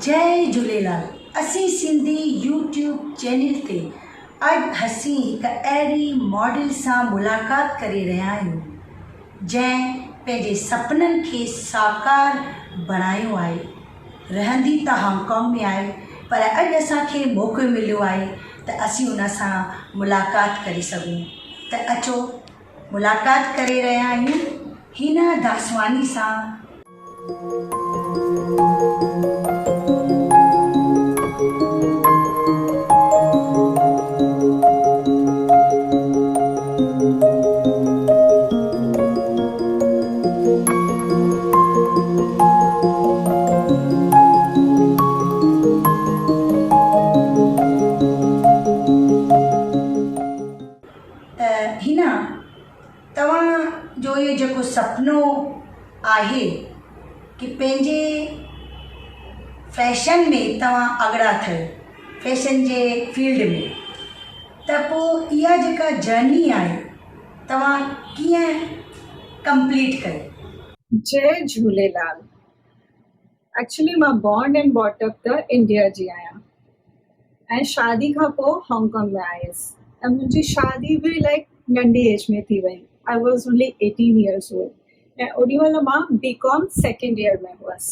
جئي جھوليلال اسين Sindhi YouTube channel تي اڄ اسين هڪ اهڙي ماڊل سان ملاقات ڪري رهيا آهيون جنهن پنهنجي سپنن کي ساڪار بڻايو آهي. رهندي ته هانگ ڪانگ ۾ آهي پر اڄ اسان کي موقعو مليو آهي ته اسين ان سان ملاقات ڪري سگهون ته اچو ملاقات ڪري رهيا آهيون هينا داسواني سان. ته هن توهان جو اهي جيڪو سپنو آهي ڪي پنهنجي فيشن ۾ توهان اڳڙا ٿيو فيشن جي فيلڊ ۾. ته پوء اها جيڪا جرني آهي توهان ڪيئن ڪمپليٽ ڪئي؟ جئي جهوليلال ايڪچلي مان بورن اينڊ بوٽ اپ ته انڊيا جي آهيان ۽ شادي کان پوء هانگ ڪانگ ۾ آيس ۽ منهنجي شادي به لائڪ ننڍي ايج ۾ ٿي وئي I was only eighteen years old ۽ اوڏي مهل مان بي ڪام سيڪنڊ ايئر ۾ هئس.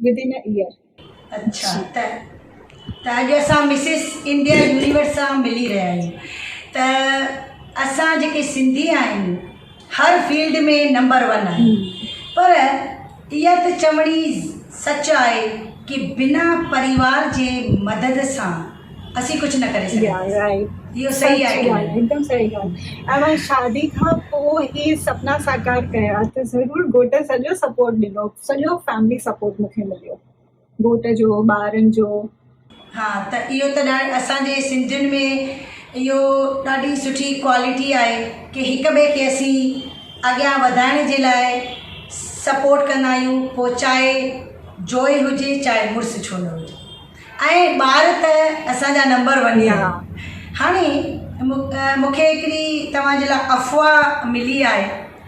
within a year. اڇا ته ته اڄ اسان مسز انڊيا يونيورس سان ملي رهيا آهيون ته اسان جيڪي سنڌي آهيون هر فيلڊ ۾ نمبر ون آهيون پر اها ته چوڻي سچ آهي ڪي بنا پريوار جي مدد سان اسين ڪجهه نه ڪري سگهنداسين اهو صحيح آهي ڪي نه هڪدم صحيح ڳالهه اوهان شادي کان پوء هي سپنا ساڪار ڪيا ته ضرور گهوٽ سڄو سپورٽ ڏنو سڄو فيملي سپورٽ مونکي مليو گهوٽ جو ٻارن جو. ها ته اهو ته ڄاڻ اسان جي سنڌين ۾ اهو ڏاڍي سٺي ڪوالٽي آهي ڪي هڪ ٻئي کي اسين اڳيان وڌائڻ جي لاء سپورٽ ڪندا آهيون پوء چاهي جوئي هجي چاهي مڙس ڇو نه هجي ۽ ٻار ته اسان جا نمبر ون آهن هاڻي مونکي هڪڙي توهان جي لاء افواهه ملي آهي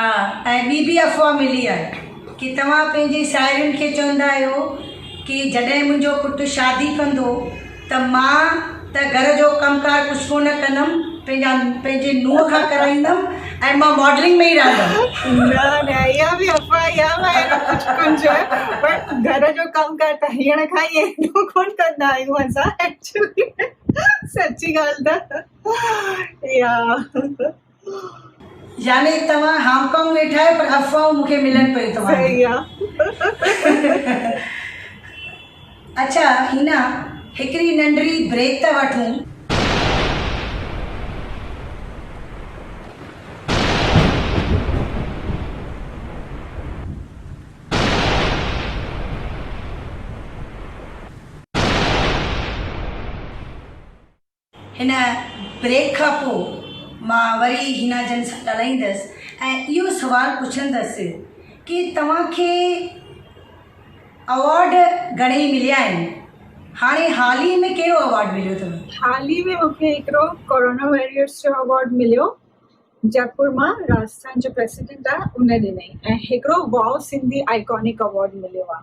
آ ۽ ٻي به افواهه ملي آهي ڪي توهان پنهنجي ساهيڙين کي چوندا آهيو ڪي جڏهن منهنجو پٽ شادي ڪندو ته مان ته گهر جو ڪم ڪار ڪجهه ڪو نه ڪندم پنهنجا پنهنجي نونهن کان ڪرائيندم ۽ مان ماڊلنگ ۾ ئي رهندم. نه نه اها به افواهه يا وائرو ڪجهه ڪجهه پر گهر جو ڪم ڪار ته هيڻ کان ئي ايڏو ڪون ڪندا آهيون اسان ايڪچولي ۾ سچي ڳالهه ته اها يعني توهان هانگ ڪانگ ويٺا آهيو پر افواهون مون کي ملن پيون توهان جون. اڇا هينا هڪڙي ننڍڙي بريڪ ٿا وٺون. هن بريڪ کان پوء مان وري حنا جن سان ڳالهائيندس ۽ اهو سوال پڇندس ڪي توهان کي اوارڊ گهڻي مليا آهن؟ هاڻي حال ئي ۾ ڪهڙو اوارڊ مليو اٿو؟ حال ئي ۾ مون کي هڪڙو ڪورونا واريئرس جو اوارڊ مليو جئپور مان راجسٿان جو پريسيڊنٽ آهي ان ڏنائين ۽ هڪڙو واء سنڌي آئيڪانڪ اوارڊ مليو آهي.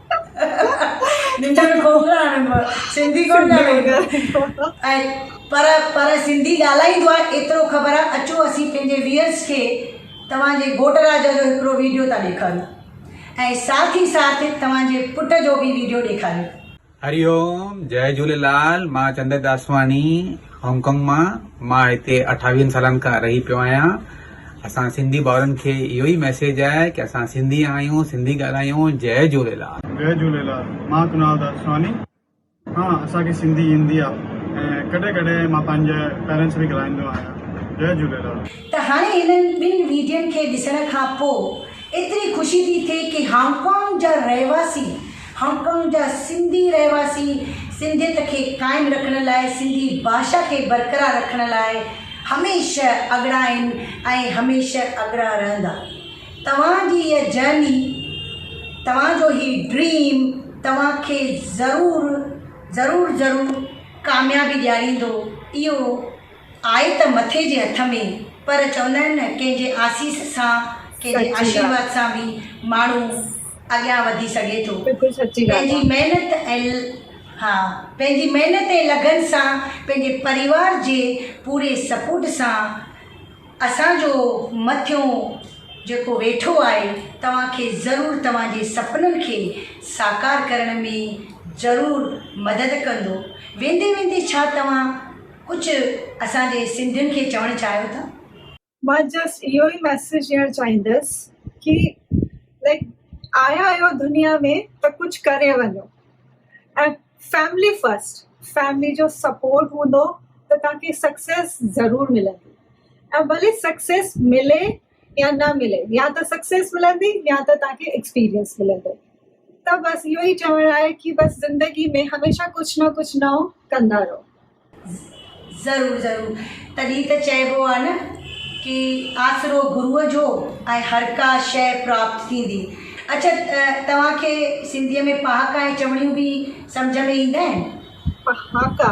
ننڊ ۾ ڪوڪڙا آڻڻ پر سنڌي ڪون ڄاڻيندو ۽ پر پر سنڌي ڳالهائيندو آهي ايترو خبر آهي اچو اسين پنهنجي ويئرز کي توهان جي گهوٽ راجا جو هڪڙو ويڊيو ٿا ڏيکاريون ۽ ساٿ ئي ساٿ توهان جي پٽ جو به ويڊيو ڏيکاريون. هري اوم جئي جهوليلال مان چندر داسواڻي هانگ ڪانگ مان مان هتي اٺاويهن سالن کان رهي پيو آهيان. اسان سنڌي ڀائرن کي اهو ئي ميسيج آهي ڪي اسان سنڌي آهيون سنڌي ڳالهايون جئي جهوليلال. جئي جهوليلال مان ڪنال دادسواڻي ها اسان کي سنڌي ايندي آ ۽ ڪڏهن ڪڏهن مان پنهنجي پيرنٽس سان به ڳالهائيندو آهيان جئي جهوليلال. ته هاڻي هنن ٻن ويڊين کي ڏسڻ کان پوء ايتري خوشي ٿي ٿئي ڪي هانگ ڪانگ جا رهواسي هانگ ڪانگ جا سنڌي رهواسي سنڌيت کي قائم رکڻ لاء سنڌي ڀاشا کي برقرار رکڻ لاء هميشه اڳڙا آهن ۽ هميشه اڳڙا رهندا. توهان جي هيء جرني، توهان جو هي ڊريم توهان کي ضرور ضرور ضرور ڪاميابي ڏياريندو اهو آهي ته مٿي جي هٿ ۾، پر چوندا آهن نه ڪنهن جي آسيس سان، ڪنهن جي آشيرواد سان به ماڻهو اڳيان وڌي سگهي ٿو. پنهنجي محنت ۽ ها پنهنجي محنت ۽ لگن سان پنهنجي پريوار جي پوري سپورٽ سان اسان جو مٿيون جيڪو ويٺو آهي توهان کي ضرور توهان جي سپنن کي ساڪار ڪرڻ ۾ ضرور مدد ڪندو ويندي ويندي ڇا توهان ڪجهه اسان جي سنڌين کي چوڻ چاهيو ٿا. مان جسٽ اهو ئي ميسيج ڏيڻ چاهيندس ڪي لائڪ آيا آهيو دنيا ۾ ته ڪجهه ڪري وڃو ۽ فيملي فرسٽ فيملي جو سپورٽ هوندو ته تهان کي سڪسيس ضرور ملندي ۽ ڀلي سڪسيس ملي يا نه ملي يا ته سڪسيس ملندي يا ته تان کي ايڪسپيرينس ملندو ته بس اهو ئي چوڻ آهي ڪي بس زندگي ۾ هميشه ڪجهه نه ڪجهه نئون ڪندا رهو. ضرور ضرور تڏهن ته چئبو آهي نه ڪي آسرو گروء جو ۽ هرڪا شئي پراپت ٿيندي اڇا توهان کي سنڌيء ۾ پهاڪا ۽ چوڻيون به سمجهه ۾ ايندا آهن؟ پهاڪا.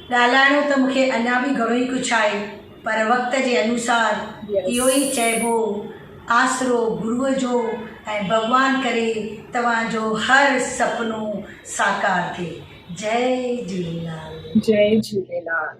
ڳالهائڻو ته مون کي اڃا به گهڻو ئي ڪجهه آهي پر وقت جي انوسار اهو ئي چئبو آسرو گروء جو ۽ ڀڳوان ڪري توهان جو هر سپنو ساڪار ٿئي جئي جهوليلال. جئي جهوليلال.